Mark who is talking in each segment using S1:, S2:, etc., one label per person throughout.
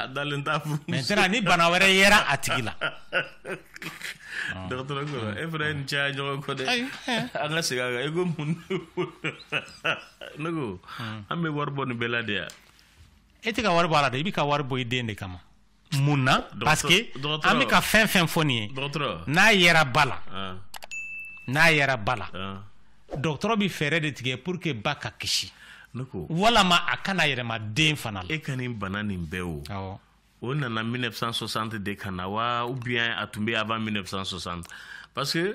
S1: a dalen t'a furu maintenant ni bana wɛrɛ yera a tigi la dɔgɔtɔrɔ
S2: ko e fana ye nin caya ɲɔgɔn kɔ dɛ an ka segin a kan i ko mun ne ko an bɛ wari bɔ nin bɛɛ la de yan e tɛ ka
S1: wari bɔ a la dɛ i bɛ ka wari bɔ i den de kama mun na parce que an bɛ ka fɛn fɛn fɔ nin ye n'a
S2: yera ba
S1: la n'a yera ba la dɔgɔtɔrɔ bɛ fɛɛrɛ de tigɛ pour que ba ka kisi
S2: walama a
S1: kana yɛlɛma den fana la e ka nin bana
S2: nin bɛɛ o awɔ o nana 1960 de ka na wa ou bien a tun bɛ avant 1960 parce que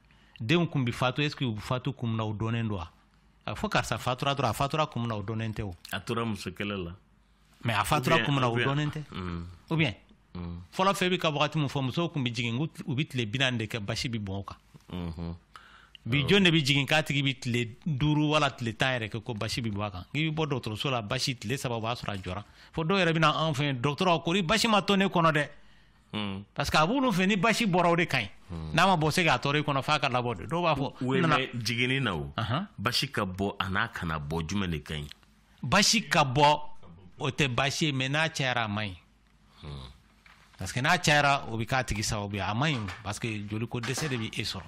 S1: denw kun bi fatu est ce que u fatu kun na u dɔnnen don wa a fɔ karisa fatura dɔrɔn a fatura kun na o dɔnnen tɛ o a tora musokɛlɛ la
S2: mais a fatura
S1: kun na o dɔnnen tɛ ou bien fɔlɔ fɛ bɛ ka wagati min fɔ musow kun bɛ jigin u bɛ tile binaani de kɛ basi bɛ bɔn u kan mm-hmm. bi jɔn de bɛ jigin k'a tigi bɛ tile duuru wala tile tan yɛrɛ kɛ ko basi bɛ bɔ a kan k'i bɛ bɔ dɔgɔtɔrɔso la basi tile saba o b'a sɔrɔ a jɔra fo dɔw yɛrɛ bɛ na anw fɛ yen dɔgɔtɔrɔ kori basi ma to ne kɔnɔ dɛ Hmm. parce que a b'olu fɛ ni basi bɔra o de ka ɲi hmm. n'a ma bɔ se ka toli i kɔnɔ f'a ka labɔ de dɔw b'a fɔ n'a
S2: jiginna o basi ka bɔ an'a kana bɔ jumɛn de ka ɲi basi ka
S1: bɔ o tɛ basi ye mais n'a cayara a man ɲi hmm. parce que n'a cayara o bɛ k'a tigi sababu ye a man ɲi parce que joliko dɛsɛ de bɛ e sɔrɔ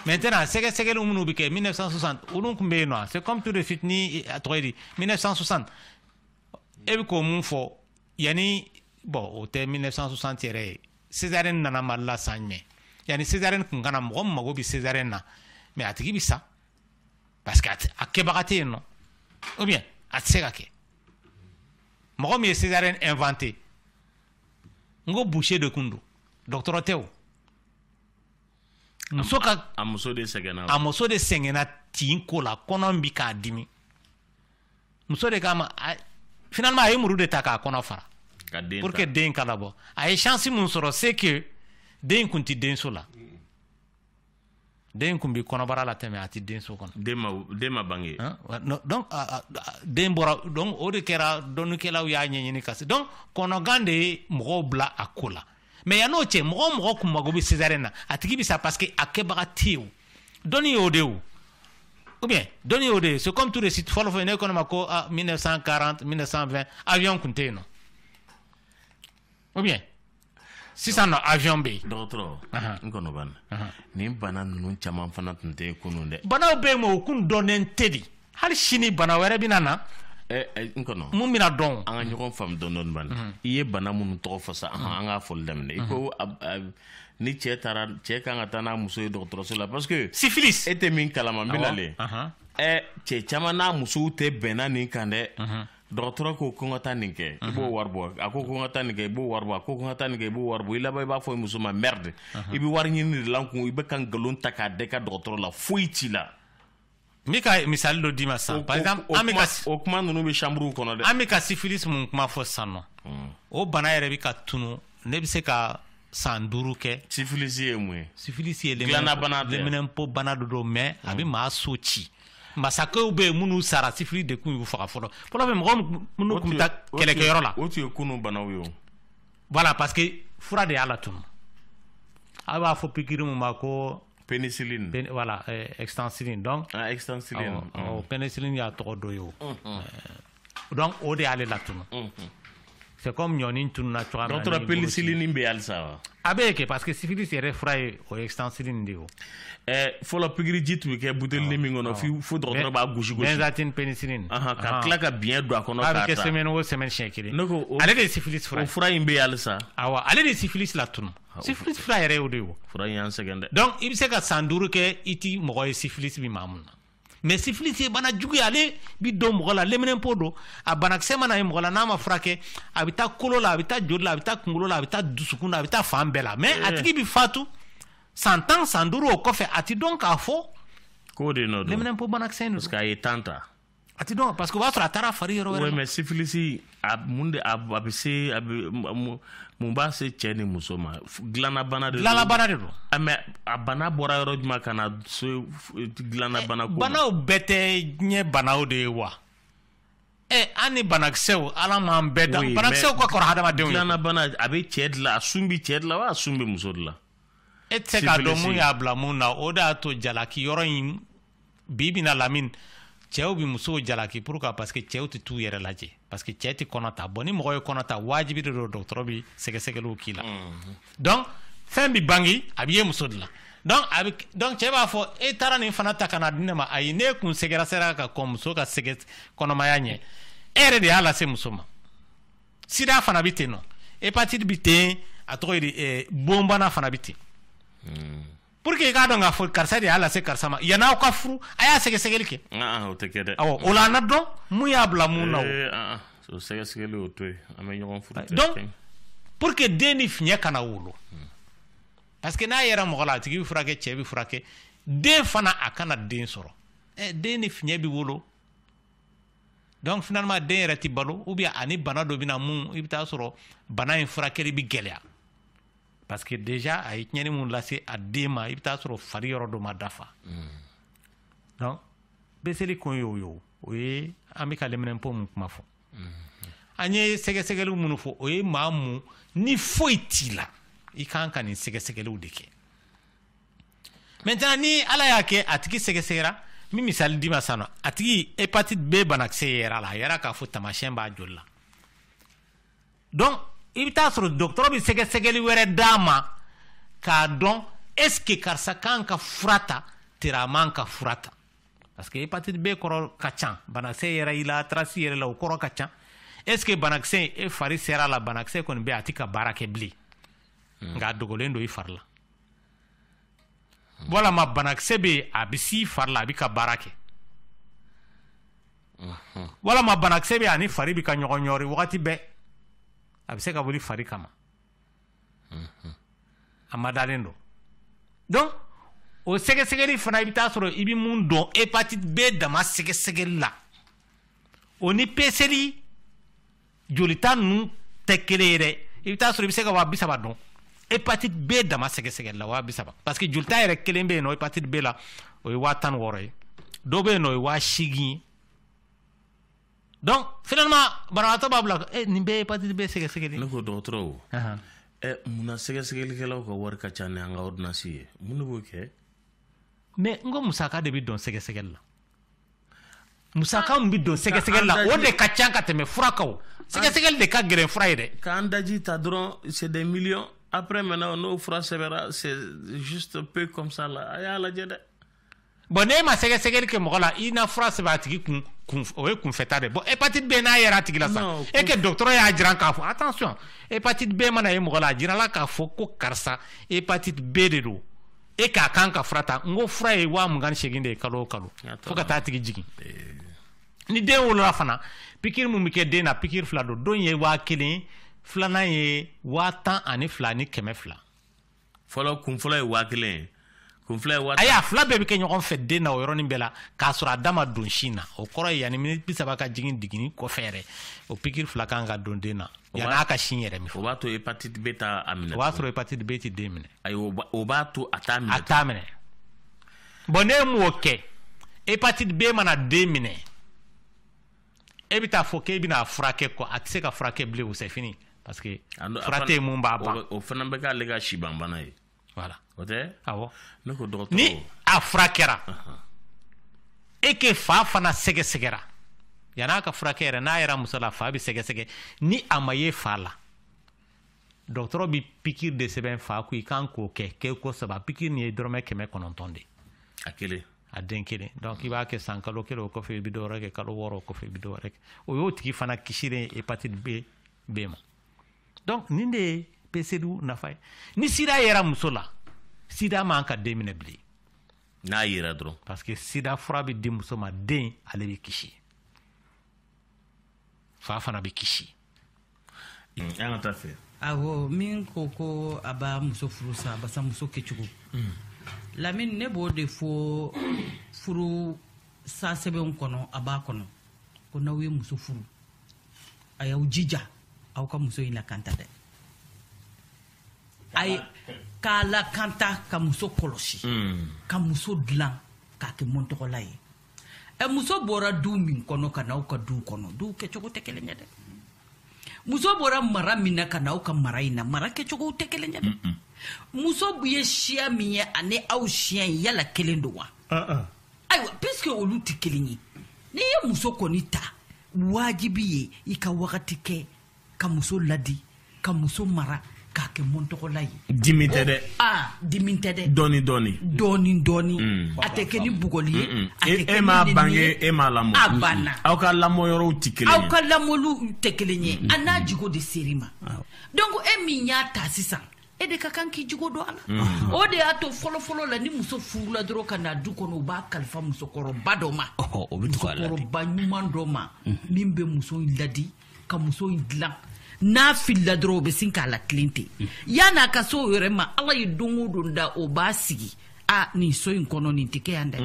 S1: maintenant sɛgɛsɛgɛliw minnu bɛ kɛ 1960 olu kun bɛ yen non c'est comme tout de suite ni a tɔgɔ ye di 1960 e bɛ k'o mun fɔ Yanni bon o tɛ 1960 yɛrɛ ye césarienne nana Mali la san jumɛn yanni césarienne kun ka na mɔgɔ min mago bɛ césarienne na mais a tigi bɛ sa parce que a kɛbaga tɛ yen non ou bien a tɛ se ka kɛ mɔgɔ min ye césarienne inventé n ko boucher de kun don dɔgɔtɔrɔ tɛ o muso ka a
S2: muso de sɛgɛnna tin ko la kɔnɔ bɛ k'a dimi muso de kama finalement a ye muru de ta k'a kɔnɔ fara pour que den ka labɔ a ye chance mun sɔrɔ c'est que den kun tɛ denso la den kun bɛ kɔnɔbara la tɛmɛ a tɛ denso kɔnɔ den ma bange
S1: donc den bɔra donc o de kɛra dɔnnikɛlaw y'a ɲɛɲini ka se donc kɔnɔgan de ye mɔgɔw bila a ko la mais yann'o cɛ mɔgɔ mɔgɔ kun mago bɛ césarienne na a tigi bɛ sa parce que a kɛbaga tɛ yen o dɔnni y'o de o ou bien dɔnni y'o de ye c'est comme tout de suite fɔlɔ fɔlɔ ne ko ne ma ko ah 1940 1920 avion kun tɛ yen non ou bien sisan non avion bɛ yen. dɔgɔtɔrɔ n
S2: kɔnɔ banna nin bana ninnu caman fana tun tɛ yen kunun dɛ. banaw bɛ yen mais o kun
S1: dɔnnen tɛ dɛ. hali sini bana wɛrɛ bɛna na eh, eh, n
S2: kɔnɔ mun bɛna
S1: dɔn an ka ɲɔgɔn faamu dɔɔnin
S2: ban mhm. i ye bana minnu tɔgɔ fɔ sa an k'a fɔli daminɛ i ko mhm. ni cɛ taara cɛ kan ka taa n'a muso ye dɔgɔtɔrɔso la parce que syphilis e tɛ min
S1: kalama n bɛna
S2: le ɛ cɛ caman n'a musow tɛ bɛnna nin kan dɛ mhm. dɔgɔtɔrɔ ko ko n ka taa nin kɛ i b'o wari bɔ a ko ko n ka taa nin kɛ i b'o wari bɔ a ko ko n ka taa nin kɛ i b'o wari bɔ i laban i b'a fɔ muso ma merde i bɛ wari ɲini de la n kun i bɛ ka nkalon ta k'a d'e ka dɔgɔtɔrɔ la foyi t'i la n bɛ
S1: ka misali dɔ d'i ma sisan par exemple an bɛ ka o kuma ninnu
S2: bɛ chambre kɔnɔ dɛ an bɛ ka syphilis mun
S1: kuma fɔ sisan nɔ hmm. o bana yɛrɛ bɛ ka tunu ne bɛ se ka san duuru kɛ syphilis ye mun ye
S2: syphilis ye
S1: leminɛnpo bana dɔ don mais a bɛ hmm. maa so ci masakɛw bɛ yen minnu sara syphilis de kun y'u faga fɔlɔ fɔlɔ fɛ mɔgɔ minnu tun bɛ taa kɛlɛkɛyɔrɔ la o tun ye kunun banaw ye
S2: o voilà parce
S1: que fura de y'a latunu aw b'a fɔ pikiri mun ma ko pénicilline
S2: Pén voilà
S1: euh, extensiline donc ah
S2: extensiline awɔ, awɔ, oh, pénicilline
S1: y'a tɔgɔ dɔ ye o Euh, donc o de y'ale latunu c'est comme ɲɔni tununa cogoya min na dɔgɔtɔrɔ ni boloci. pénicilline bɛ
S2: halisa wa a bɛ kɛ parce que syphilis
S1: yɛrɛ fura ye o ye extensiline de ye o Eh,
S2: fɔlɔ pikiriji tun bɛ kɛ butelini min kɔnɔ fi- fo dɔgɔtɔrɔ b'a gosi gosi benzathine
S1: pénicilline Ahan, ka Ahan. tila ka biɲɛ
S2: don a kɔnɔ a bɛ k'a kɛ ta semaine o semaine siɲɛ
S1: kelen Ne ko o- ale de ye syphilis fura o ye fura in bɛ halisa
S2: awa ale de ye syphilis
S1: latunu sifilis fura yɛrɛ y'o de ye fura y'an sɛgɛn
S2: dɛ donc i bɛ se ka
S1: san duuru kɛ i ti mɔgɔ ye sifilis bɛ maa mun na mais sifilis ye bana jugu ye ale bi don mɔgɔ la leminɛnpo don a banakisɛ mana ye mɔgɔ la n'a ma furakɛ a bɛ taa kolo la a bɛ taa joli la a bɛ taa kunkolo la a bɛ taa dusukun na a bɛ taa fan bɛɛ la mais a tigi bɛ fatu san tan san duuru o kɔfɛ a ti dɔn k'a fɔ k'o
S2: de nɔ don
S1: leminɛnpo banakisɛ in don parce que a ye san tan
S2: ta
S1: a tɛ dɔn parce que o b'a sɔrɔ a taara fari yɔrɔ wɛrɛ mais
S2: syphilis a mun de a bɛ se a bɛ mun b'a se cɛ ni muso ma dilannabana de don dilannabana de don ah, mais a bana bɔra yɔrɔ jumɛn ka na se dilannabana ko banaw bɛɛ tɛ
S1: diɲɛ banaw de ye wa ɛ eh, an ni banakisɛw ala m'an bɛɛ dan banakisɛw ka kɔrɔ hadamadenw ye dilannabana a bɛ cɛ
S2: de la a sun bɛ cɛ de la wa a sun bɛ muso de la e tɛ se k'a
S1: dɔn mun y'a bila mun na o de y'a to jalaki yɔrɔ in bi bɛna lamini cɛw bɛ musow jalaki pourquoi parce que cɛw tɛ t'u yɛrɛ lajɛ parce que cɛ tɛ kɔnɔ ta bon ni mɔgɔ ye kɔnɔ ta wajibi de don dɔgɔtɔrɔ bɛ sɛgɛsɛgɛliw k'i la mm-hmm. donc fɛn bɛ bange a bɛ ye muso de la donc a bɛ donc cɛ b'a fɔ e taara nin fana ta ka na di ne ma ayi n'e kun sɛgɛsɛgɛra ka kɔn muso ka sɛgɛ kɔnɔmaya ɲɛ e yɛrɛ de y'a lase muso ma sida fana bɛ ten nɔ hépatite bɛ ten a tɔgɔ ye di eh, bon bana fana bɛ ten. Mm. pour que i k'a dɔn k'a fɔ karisa de y'a lase karisa ma yan'aw ka furu a y'a sɛgɛsɛgɛli kɛ o tɛ kɛ dɛ
S2: awɔ o la an n'a
S1: dɔn mun y'a bila mun na o sɛgɛsɛgɛli
S2: o to yen an bɛ ɲɔgɔn furu donc
S1: pour que den ni fiɲɛ kana wolo parce que n'a yera mɔgɔ la a tigi bɛ furakɛ cɛ bɛ furakɛ den fana a kana den sɔrɔ ɛ den ni fiɲɛ bɛ wolo donc finalement den yɛrɛ tɛ balo ou bien ani bana dɔ bɛ na mun i bɛ taa sɔrɔ bana in furakɛli bɛ gɛlɛya parce que déjà a ye tiɲɛni mun lase a den ma i bɛ taa sɔrɔ fari yɔrɔ dɔ ma dafa donc peseli kun y'o ye o ye an bɛ ka lɛminɛnpo mun kuma fɔ an ye sɛgɛsɛgɛliw minnu fɔ o ye maa mun ni foyi t'i la i kan ka nin sɛgɛsɛgɛliw de kɛ maintenant ni ala y'a kɛ a tigi sɛgɛsɛgɛra n bɛ misali d'i ma sisan nɔ a tigi hépatite b banakisɛ yera a la a yera k'a fɔ taamasiyɛn b'a joli la donc i bɛ taa sɔrɔ dɔgɔtɔrɔ bɛ sɛgɛsɛgɛli wɛrɛ d'a ma k'a dɔn est-ce que karisa kan ka fura ta tari a man ka fura ta parce que hépatite b kɔrɔ ka ca banakisɛ yera i la trace yera a la o kɔrɔ ka ca est-ce que banakisɛ in e fari sera a la banakisɛ kɔni bɛ a tɛ ka baara kɛ bilen hmm. nka a dogolen don i fari la walama banakisɛ bɛ yen a bɛ s'i fari la a bɛ ka baara kɛ walama banakisɛ bɛ ani fari bɛ ka ɲɔgɔn ɲɔri wagati bɛɛ a bɛ se ka wuli fari kama a madalen don donc o sɛgɛsɛgɛli fana i bɛ taa sɔrɔ i bɛ mun don hépatite b dama sɛgɛsɛgɛli la o ni peseli jolita ninnu tɛ kelen ye dɛ i bɛ taa sɔrɔ i bɛ se ka waa bi saba don hépatite b dama sɛgɛsɛgɛli la waa bi saba parce que jolita yɛrɛ kelen bɛ yen nɔ hépatite b la o ye waa tan ni wɔɔrɔ ye dɔ bɛ yen nɔ o ye waa seegin ye donc finalement banabagatɔ b'a bila eh, nin bɛɛ hépatite b sɛgɛsɛgɛli ne ko dɔgɔtɔrɔw
S2: eh, munna sɛgɛsɛgɛlikɛlaw ka wari ka ca ni an ka ordonnance ye mun de b'o kɛ mais
S1: n ko musaka de bɛ don sɛgɛsɛgɛli la musaka min bɛ don sɛgɛsɛgɛli la o de ka ca ka tɛmɛ fura kan sɛgɛsɛgɛli de ka gɛlɛn fura ye dɛ k'an daji ta dɔrɔn
S2: c'est des millions après maintenant n'o fura sɛbɛnra c'est juste peu comme ça la a y'a lajɛ dɛ bon
S1: n'e ma sɛgɛsɛgɛli kɛ mɔgɔ la i na fura sɛbɛn a tigi kun kun o ye kunfɛta de bon hépatite b n'a yera a tigi la sa e kɛ dɔgɔtɔrɔ y'a jiran k'a fɔ attention hépatite b mana ye mɔgɔ la a jirala k'a fɔ ko karisa hépatite b de don e k'a kan ka fura ta n ko fura ye waa mugan ni seegin de ye kalo o kalo fo ka taa a tigi jigin ni den wolola fana pikiri mun bɛ kɛ den na pikiri fila don dɔ ye waa kelen filanan ye waa tan ani fila ni kɛmɛ fila fɔlɔ
S2: kun fɔlɔ ye waa kelen
S1: ye ayi a fila bɛɛ bɛ kɛ ɲɔgɔn fɛ den na o yɔrɔnin bɛɛ la k'a sɔrɔ a da ma don sin na o kɔrɔ ye yanni miniti bi saba ka jigin jiginni kɔfɛ yɛrɛ o pikiri fila kan ka don den na yanni a ka sin yɛrɛ min o b'a to hépatite b t'a
S2: minɛ o b'a sɔrɔ hépatite b tɛ
S1: den minɛ ayiwa o
S2: b'a to a t'a minɛ a t'a
S1: minɛ bon n'e m'o kɛ hépatite b mana den minɛ e bɛ taa fɔ k'e bɛna a furakɛ kɔ a tɛ se ka furakɛ bilen o c'est fini parce que fura tɛ yen mun b'a ban o fana bɛ k'ale
S2: ka sibanbana ye voilà o
S1: tɛ
S2: awɔ ne
S1: ko dɔgɔtɔrɔ
S2: ni a
S1: furakɛra e ke fa fana sɛgɛsɛgɛra yan'a ka furakɛ yɛrɛ n'a yera muso la fa bɛ sɛgɛsɛgɛ ni a ma ye fa la dɔgɔtɔrɔ bɛ pikiri de sɛbɛn fa kun i kan k'o kɛ kɛko saba pikiri nin ye dɔrɔmɛ kɛmɛ kɔnɔntɔn de a
S2: kelen a den kelen
S1: donc i b'a kɛ san kalo kelen o kɔfɛ i bɛ dɔwɛrɛ kɛ kalo wɔɔrɔ o kɔfɛ i bɛ dɔwɛrɛ kɛ o y'o tigi fana kisilen hépatite b ma donc nin de ye peseliw nafa ye ni sida yera muso la sida man ka den minɛ bilen n'a yera
S2: dɔrɔn parce que sida fura
S1: bɛ di muso ma den ale bɛ kisi fa fana bɛ kisi
S2: an ka taa fɛ awɔ
S3: min ko ko a b'a muso furu sa barisa muso kɛcogo mm. lamini ne b'o de fɔ furu sa sɛbɛnw kɔnɔ a b'a kɔnɔ ko n'aw ye muso furu a y'aw jija aw ka muso in lakanta dɛ a ye k'a lakanta ka muso kɔlɔsi mm. ka muso dilan k'a kɛ mɔntɔgɔla ye ɛ muso bɔra du min kɔnɔ ka n'aw ka du kɔnɔ duw kɛcogo tɛ kelen ye dɛ muso bɔra mara min na ka n'aw ka mara in na mara kɛcogow tɛ kelen ye dɛ muso ye siya min ye ani aw siya in yala kelen don wa ayiwa puisque olu tɛ kelen ye n'i ye muso kɔni ta wajibi ye i ka wagati kɛ ka muso ladi ka muso mara k'a kɛ mɔntɔgɔla ye dimi tɛ dɛ
S2: aa dimi tɛ
S3: dɛ dɔɔni dɔɔni
S2: dɔɔni dɔɔni a tɛ kɛ ni
S3: bugɔli ye a tɛ kɛ e m'a bange e
S2: m'a lamɔ a banna aw ka
S3: lamɔ yɔrɔw
S2: tɛ kelen ye aw ka lamɔliw
S3: tɛ kelen ye a n'a jogo de ser'i ma donc e min y'a ta sisan e de ka kan k'i jogo don a la o de y'a to fɔlɔfɔlɔ la ni muso furula dɔrɔn ka na du kɔnɔ u b'a kalifa musokɔrɔba dɔ ma o bɛ tugu a la de musokɔrɔba ɲuman dɔ ma min bɛ muso in ladi ka muso in dilan n'a filila dɔrɔn o bɛ sin k'a latilen ten mm. yan'a ka se o yɛrɛ ma ala ye don o don da o b'a sigi a nin so in kɔnɔ nin tɛ kɛ yan dɛ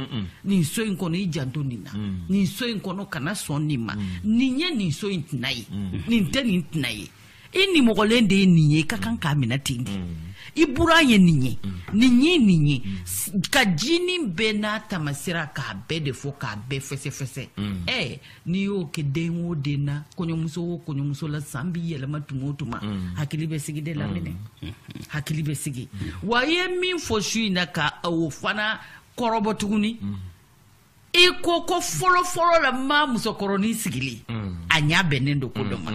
S3: nin so in kɔnɔ i janto nin na mm. nin so in kɔnɔ kana sɔn nin ma mm. nin ye nin so in tana ye nin tɛ nin tana ye i nimɔgɔlen de ye nin ye i ka kan k'a minɛ ten de i buran ye nin ye nin ye nin ye ka jinin bɛɛ n'a taamasira k'a bɛɛ de fɔ k'a bɛɛ fɛsɛfɛsɛ ɛɛ n'i y'o kɛ den o den na kɔɲɔmuso o kɔɲɔmuso la san b'i yɛlɛma tuma o tuma mm. hakili bɛ sigi de lamini mm. hakili bɛ sigi mm. wa i ye min fɔ su in na ka o fana kɔrɔbɔ tuguni i ko ko fɔlɔfɔlɔ la ma musokɔrɔnin sigilen a ɲa bɛnnen don ko dɔ ma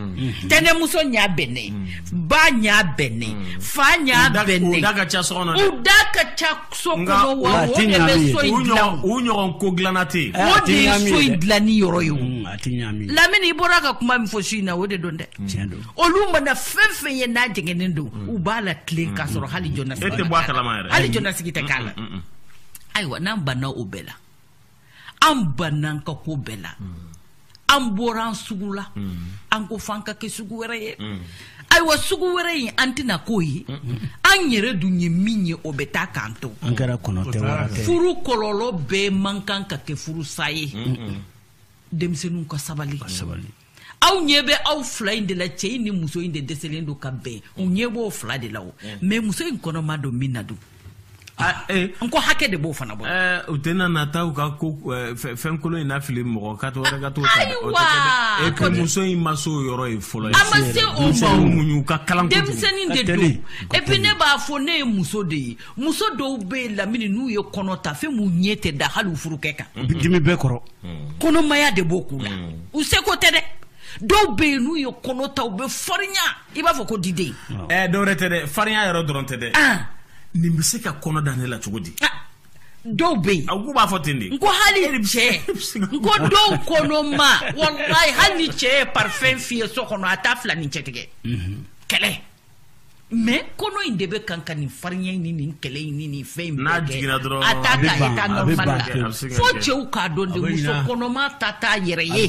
S3: tɛnɛmuso ɲa bɛnnen ba ɲa bɛnnen fa ɲa bɛnnen u
S2: da ka ca
S3: so kɔnɔ wa o de bɛ so in dilan o ɲɔgɔn ko
S2: dilanna tɛ yen o de ye so in
S3: dilanni yɔrɔ ye o lamini i bɔra ka kuma min fɔ su in na o de don dɛ olu mana fɛn fɛn ye n'a jɛngɛnnen don u b'a latilen k'a sɔrɔ hali jɔnnasigi tɛ k'a la hali
S2: jɔnnasigi tɛ k'a la
S3: ayiwa n'an banna o bɛɛ la an banna an ka ko bɛɛ la an bɔra an sugu la an ko f'an ka kɛ sugu wɛrɛ ye ayiwa sugu wɛrɛ in an tɛna k'o ye an yɛrɛ dun ye min ye o bɛ taa k'an to an kɛra kɔnɔ tɛ
S4: wara tɛ furu
S3: kɔlɔlɔ bɛɛ man kan ka kɛ furusa ye denmisɛnninw ka sabali sabali aw ɲɛ bɛ aw fila in de la cɛ in ni muso in de dɛsɛlen don ka bɛn u ɲɛ b'o fila de la o mm. mais muso in kɔnɔma don min na dun ah, eh. n ko hakɛ de b'o fana bɔ eh, u tɛna na taa u ka
S2: ko eh, fɛn kolon in na fili mɔgɔ ka to wɛrɛ ka t'o ta dɛ
S3: ko muso in
S2: ma se o yɔrɔ ye fɔlɔ ye a ma se o ma
S3: muɲu ka kalan kojugu
S2: denmisɛnnin de don
S3: et puis ne b'a fɔ ne ye muso de ye muso dɔw bɛ yen lamini n'u ye kɔnɔ ta fɛn b'u ɲɛ tɛ da hali u furukɛ kan dimi bɛɛ
S4: kɔrɔ kɔnɔmaya
S3: de b'o k'u la u seko tɛ dɛ dɔw bɛ yen n'u ye kɔnɔ ta u bɛ farinya i b'a fɔ ko diden ɛɛ dɔwɛrɛ tɛ dɛ
S2: farinya yɛrɛ dɔrɔn tɛ dɛ nin bɛ se ka kɔnɔ da ne la cogo di dɔw
S3: bɛ yen u b'a fɔ ten de n
S2: ko hali
S3: cɛ n ko dɔw kɔnɔma walayi hali ni cɛ ye parfum fiyɛ so kɔnɔ a t'a fila ni cɛ tigɛ kɛlɛ mais kɔnɔ in de bɛ kan ka nin farinya in ni nin kɛlɛ in ni nin fɛn in bɛɛ kɛ a
S2: t'a ka état
S3: normal la fo cɛw k'a dɔn de muso kɔnɔma ta t'a yɛrɛ ye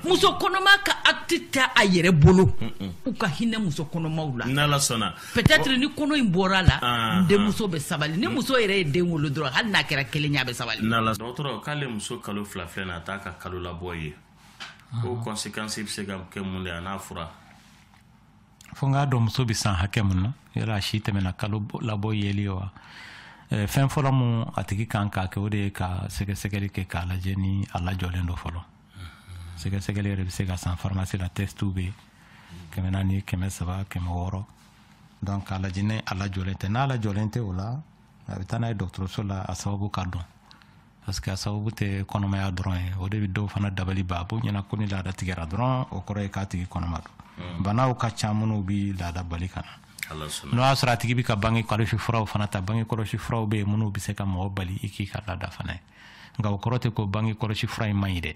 S3: muso kɔnɔma ka acte tɛ a yɛrɛ bolo u ka hinɛ muso kɔnɔmaw la n'ala sɔnna
S2: peut-être ni kɔnɔ
S3: in bɔra la ah, denmuso ah. bɛ sabali ni muso yɛrɛ ye den wolo dɔrɔn hali n'a kɛra kelen ye a bɛ sabali n'ala dɔgɔtɔrɔ k'ale
S2: muso kalo fila filɛ na a t'a ka kalolabɔ ye o conséquence bɛ se ka kɛ mun de a n'a fura
S1: fo n k'a dɔn muso bɛ san hakɛ mun na yala a si tɛmɛna kalolabɔ yeli wa fɛn fɔlɔ min a tigi kan k'a kɛ o de ye ka sɛgɛsɛgɛli kɛ k'a lajɛ ni a lajɔlen don fɔlɔ sɛgɛsɛgɛli yɛrɛ bɛ se ka san farimasi la tɛsitiw bɛ yen kɛmɛ naani kɛmɛ saba kɛmɛ wɔɔrɔ donc k'a lajɛ ni a lajɔlen tɛ n'a lajɔlen tɛ o la a bɛ taa n'a ye dɔgɔtɔrɔso la a sababu ka dɔn parce que a sababu tɛ kɔnɔmaya dɔrɔn ye o de bɛ dɔw fana dabali ban a b'o ɲɛna ko ni laada tigɛra dɔrɔn o kɔrɔ ye k'a tigi kɔnɔma don hmm. banaw ka ca minnu bɛ laada bali ka na n'o y'a sɔrɔ a tigi bɛ ka bange kɔlɔsi furaw fana ta bange kɔlɔsi furaw bɛ yen minnu bɛ se ka mɔgɔ bali i k'i ka laada fana ye nka o kɔrɔ tɛ ko bange kɔlɔsi fura in man ɲi dɛ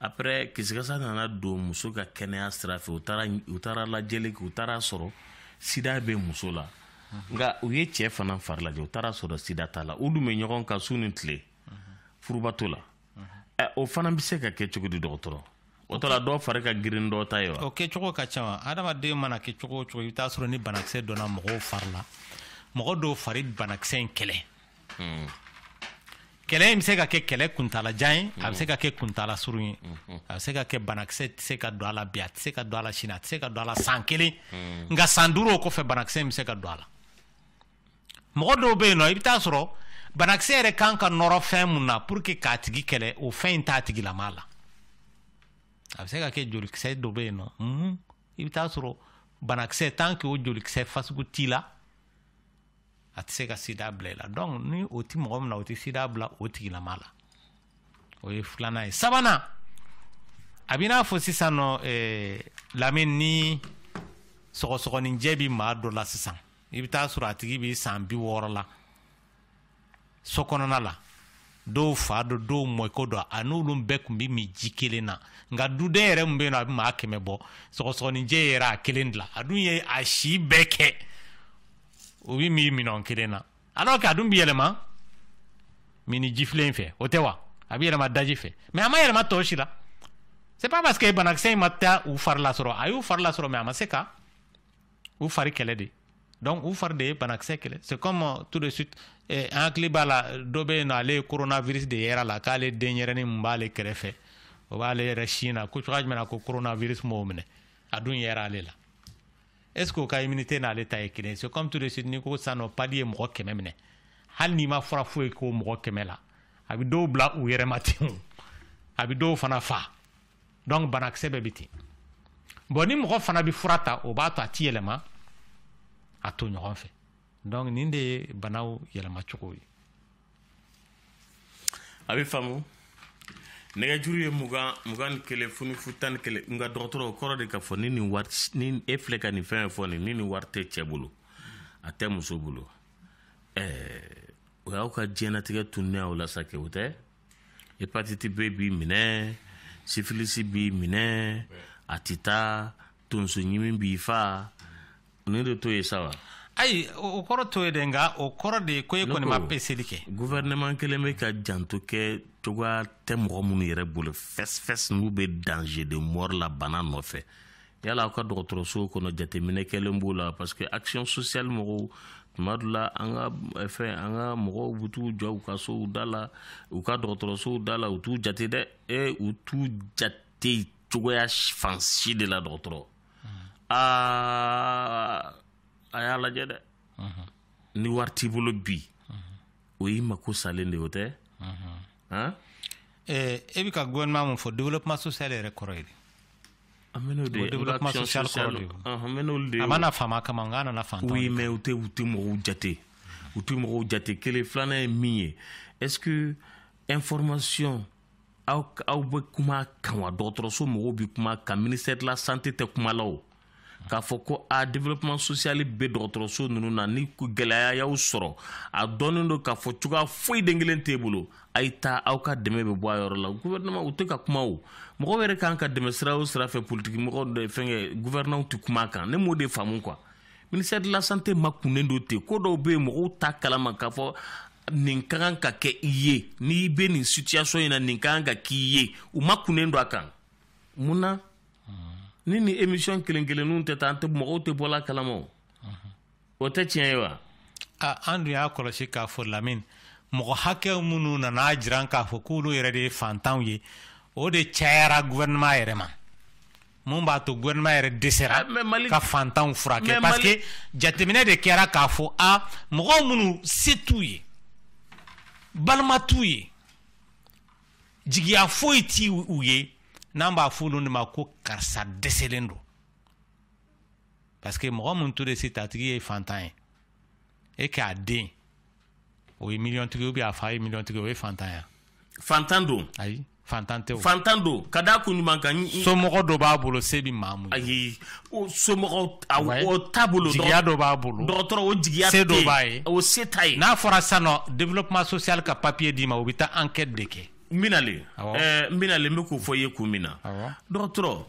S2: après kisikasa nana don muso ka kɛnɛya sira fɛ u taara u taara lajɛli kɛ u taara sɔrɔ sida bɛ muso la nka u ye cɛ fana fari lajɛ u taara sɔrɔ sida t'a la u dun bɛ ɲɔgɔn kan su ni tile furu bato la o fana bɛ se ka kɛ cogo di dɔgɔtɔrɔ o tɔ la dɔw fari ka girin dɔw ta ye wa o kɛcogo ka ca wa
S1: adamaden mana kɛ cogo o cogo i bɛ taa sɔrɔ ni banakisɛ donna mɔgɔw fari la mɔgɔ dɔw fari banakisɛ in kɛlɛ mm. kɛlɛ in bɛ se ka kɛ kɛlɛ kuntalajan ye a bɛ se ka kɛ kuntala surun ye a bɛ se ka kɛ banakisɛ tɛ se ka don a la bi a tɛ se ka don a la sini a tɛ se ka don a la san kelen nka san duuru o kɔfɛ banakisɛ in bɛ se ka don a la mɔgɔ dɔw bɛ yen nɔ i bɛ taa sɔrɔ banakisɛ yɛrɛ kan ka nɔrɔ fɛn mun na pour que k'a tigi kɛlɛ o fɛn in t'a tigilama la a bɛ se ka kɛ jolikisɛ dɔ bɛ yen nɔ i bɛ taa sɔrɔ banakisɛ tant que o jolikisɛ fasugu t'i la a tɛ se ka sida bila i la donc ni o tɛ mɔgɔ min na o tɛ sida bila o tigilama la o ye filanan ye sabanan a b'i n'a fɔ sisan nɔ eh, lamini ni sɔgɔsɔgɔninjɛ bi maa dɔ la sisan i bɛ taa sɔrɔ a tigi bi san bi wɔɔrɔ la so kɔnɔna la dɔw fa don dɔw mɔkɛ don a n'olu bɛɛ tun bɛ min ji kelen na nka duden yɛrɛ min bɛ yen a bɛ maa kɛmɛ bɔ sɔgɔsɔgɔninjɛ yera a kelen de la a dun ye a si bɛɛ kɛ o bɛ min minɛn kelen na alors que a dun bɛ yɛlɛma minni jifilen fɛ o tɛ wa a bɛ yɛlɛma daji fɛ mais a ma yɛlɛma tɔw si la c'est pas parce que banakisɛ in ma taa u fari lasɔrɔ a y'u fari lasɔrɔ mais a ma se ka u fari kɛlɛ de donc u fari de ye banakisɛ kɛlɛ c'est comme euh, tout de suite eh, an hakili b'a la dɔ bɛ yen nɔ ale ye coronavirus de yera a la k'ale denyɛrɛnin min b'ale kɛrɛfɛ o b'ale yɛrɛ sin na ko cogoya jumɛn na ko coronavirus m'o minɛ a dun yera ale la est ce que o ka immunité n'ale ta ye kelen c'est comme tout de suite n'i ko sisan nɔ palu ye mɔgɔ kɛmɛ minɛ hali n'i ma fura foyi k'o mɔgɔ kɛmɛ la a bɛ dɔw bila u yɛrɛ ma ten o a bɛ dɔw fana fa donc banakisɛ bɛɛ bɛ ten bon ni mɔgɔ fana bɛ fura ta o b'a to a ti yɛlɛma a tɔɲɔgɔn fɛ donc nin de ye banaw yɛlɛma cogo ye
S2: a bɛ faamu nɛgɛjuru ye mugan mugan ni kelen fu ni fu tan ni kelen nka dɔgɔtɔrɔ o kɔrɔ de k'a fɔ ni nin wari ni e filɛ ka nin fɛn fɔ nin ni nin wari tɛ cɛ bolo a tɛ muso bolo ɛɛ o y'aw ka diɲɛnatigɛ tununen aw la sa kɛ o tɛ hepatiti b b'i minɛ sifilisi b'i minɛ a tɛ taa tonsoɲimi b'i fa nin de t'o ye sa wa ayi o
S1: kɔrɔ t'o ye dɛ nka o kɔrɔ de ye ko e kɔni ma peseli kɛ gouvernement kelen bɛ
S2: ka janto kɛ cogoya tɛ mɔgɔ minnu yɛrɛ bolo fɛsifɛsi n'u bɛ danger de mort la bana nɔfɛ yala aw ka dɔgɔtɔrɔsow kɔnɔ jateminɛ kɛlen b'o la parce que action sociale mɔgɔw tuma dɔ la an ka eh, fɛn an ka mɔgɔw bɛ t'u jɔ u ka sow da la u ka dɔgɔtɔrɔsow da la u t'u jate dɛ e u t'u jate cogoya fan si de la dɔgɔtɔrɔ aa a y'a lajɛ dɛ ni wari t'i bolo bi o y'i mako salen de o tɛ
S1: han e bɛ ka gouvernement mun fɔ développement social yɛrɛ kɔrɔ ye di an bɛ n'o de ye développement social kɔrɔ de ye an bɛ n'olu de ye a ma na faama kama nka a nana fantan oui mais u tɛ u
S2: tɛ mɔgɔw jate u tɛ mɔgɔw jate kelen filanan ye min ye est ce que information aw aw bɛ kuma kan wa dɔgɔtɔrɔso mɔgɔw bɛ kuma kan ministère de la santé tɛ kuma la o k'a fɔ ko a développement social bɛ dɔgɔtɔrɔso ninnu na ni gɛlɛya y'aw sɔrɔ a dɔnnen don k'a fɔ cogoya foyi den kelen t'e bolo a ye taa aw ka dɛmɛ bɛ bɔ a yɔrɔ la gouvernement u tɛ ka kuma o mɔgɔw yɛrɛ kan ka dɛmɛ sira o sira fɛ politiki mɔgɔ dɔ fɛnkɛ gouvernement tɛ kuma a kan ne m'o de faamu quoi ministère de la santé makunnen don ten ko dɔw bɛ yen mɔgɔw t'a kalama k'a fɔ nin ka kan ka kɛ i ye n'i bɛ nin situation in na nin ka kan ka k'i ye u makunnen don a kan mun na ni nin émission kelen kelenninw tɛ taa an tɛ mɔgɔw tɛ bɔla kalama o o tɛ tiɲɛ ye wa an dun
S1: y'a kɔlɔsi k'a fɔ lamini mɔgɔ hakɛ minnu nan'a jira k'a fɔ k'olu yɛrɛ de ye fantanw ye o de cayara gouvernement yɛrɛ ma mun b'a to gouvernement yɛrɛ dɛsɛra ah, ka fantanw furakɛ parce que jateminɛ de kɛra k'a fɔ a mɔgɔw minnu se t'u ye balima t'u ye jigiya foyi ti u ye n'an b'a fɔ olu de ma ko karisa dɛsɛlen don parce que mɔgɔ mun to de se t'a tigi ye fantan ye e k'a den o ye miliyɔntigi ou bien a fa ye miliyɔntigi o ye fantan ya fantan don
S2: ayi fantan tɛ
S1: o fantan don ka da
S2: kun jumɛn kan somɔgɔ dɔ b'a bolo
S1: se bɛ maa mun ayi o
S2: somɔgɔ o t'a bolo jigiya dɔ b'a
S1: bolo dɔgɔtɔrɔ o jigiya
S2: se dɔ b'a ye
S1: o se t'a ye n'a
S2: fɔra sisan
S1: nɔ développement social ka papier d'i ma o bɛ taa enquête de kɛ n bɛna le
S2: n bɛna le n bɛ k'o fɔ i ye kun min na dɔgɔtɔrɔ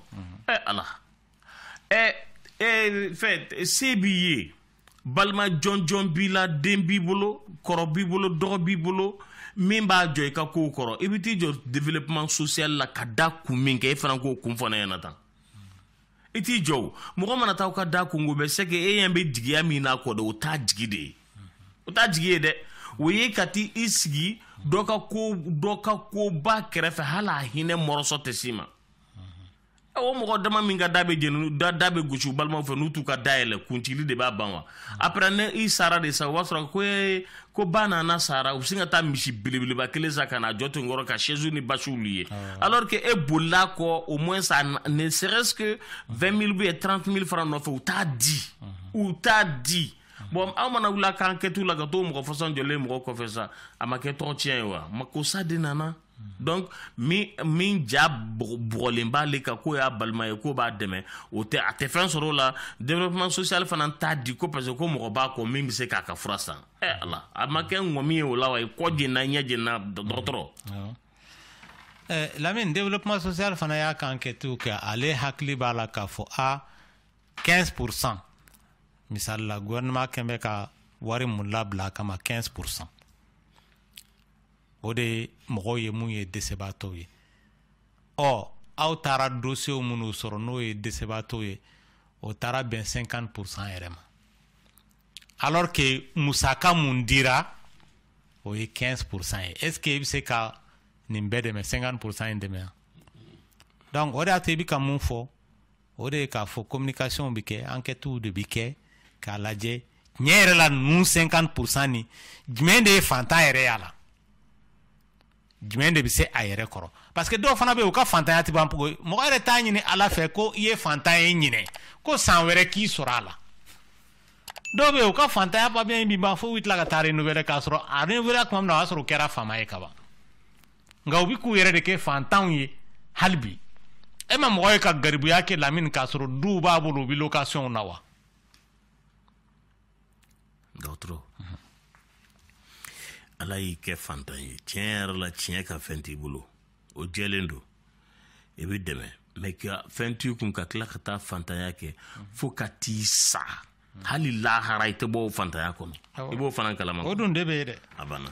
S2: ɛ ala ɛ ɛ fɛn se b'i ye balima jɔnjɔn b'i la den b'i bolo kɔrɔ b'i bolo dɔgɔ b'i bolo min b'a jɔ i ka kow kɔrɔ i bɛ t'i jɔ développement social la ka da kun min kan e fana k'o kun fɔ ne ɲɛna tan i t'i jɔ o mɔgɔ mana taa aw ka da kunko bɛɛ c'est que e ɲɛ bɛ jigiya min n'a kɔ de o t'a jigi de ye o t'a jigi ye dɛ o ye ka t'i sigi dɔ ka ko dɔ ka koba kɛrɛfɛ hali a hinɛ morceau tɛ s'i ma o mɔgɔ dama min ka da bɛ jeni da da bɛ gosi balimaw fɛ n'u t'u ka da yɛlɛ kuntili de b'a ban wa après n'i sara de sa o b'a sɔrɔ ko ee ko ba nana sara u bɛ sin ka taa misi belebeleba kelen san ka n'a jɔ to n kɔrɔ ka chaise ni basiw louer ah. alors que e bolila kɔ au moins ça ne serait-ce que 20 000 ou 30 000 francs nɔfɛ u t'a di u t'a di bon aw mana wuli a ka enquêtes la ka t'o mɔgɔ fasɔn jɔlen mɔgɔ kɔfɛ sa a ma kɛ tɔgɔ tiɲɛ ye wa makosa de nana donc min ja bugɔlen b'ale kan k'o y'a balima ye k'o b'a dɛmɛ o tɛ a tɛ fɛn sɔrɔ o la développement social fana t'a di ko parce que ko mɔgɔ b'a kɔ min bɛ se k'a ka fura san ɛ eh, ala a ma kɛ ŋɔmi ye o la wa kɔ jenna ɲɛ jenna dɔgɔtɔrɔ
S1: eh, lamini développement social fana y'a ka enquêtes kɛ ale hakili b'a la k'a fɔ a 15 pour cent misali la gouvernement kɛn bɛ ka wari mun labila a kama 15 pour cent o de ye mɔgɔw ye mun ye dɛsɛbaatɔw ye ɔ aw taara dossiers minnu sɔrɔ n'o ye dɛsɛbaatɔw ye o taara bɛn 50 pourcent yɛrɛ ma alors que musaka mun dira o ye 15 pourcent ye est ce que i bɛ se ka nin bɛɛ dɛmɛ 50 pourcent in dɛmɛ yan donc o de y'a to i bɛ ka mun fɔ o de ye k'a fɔ communication bɛ kɛ enquêtes de bɛ kɛ k'a lajɛ tiɲɛ yɛrɛ la ninnu 50 pourcent nin jumɛn de ye fantan yɛrɛ y'a la jumɛn de bɛ se a yɛrɛ kɔrɔ parce que dɔw fana bɛ yen u ka fantanya tɛ ban mɔgɔ mɔgɔ yɛrɛ t'a ɲini ala fɛ ko i ye fantan ye ɲinan ko san wɛrɛ k'i sɔrɔ a la dɔw bɛ yen u ka fantanya papiye in bɛ ban fo u tila ka taa renouveler k'a sɔrɔ a renouveler tuma min na o y'a sɔrɔ u kɛra faama ye kaban nka u bɛ k'u yɛrɛ de kɛ fantanw ye hali bi e ma mɔgɔ ye ka garibuya kɛ lamini k'a sɔrɔ duw b'a bolo u bɛ lokasiyɔnw na
S2: wa dɔgɔtɔrɔ ala y'i kɛ fantan ye tiɲɛ yɛrɛ la tiɲɛ ka fɛn t'i bolo o jɛlen don i bɛ dɛmɛ mais ka fɛn t'i kun ka tila ka taa fantanya kɛ fo ka t'i sa hali lahara
S1: i
S2: tɛ bɔ o fantanya kɔnɔ i b'o fana
S1: kalama
S2: o dun de
S1: bɛ
S2: ye dɛ a
S1: banna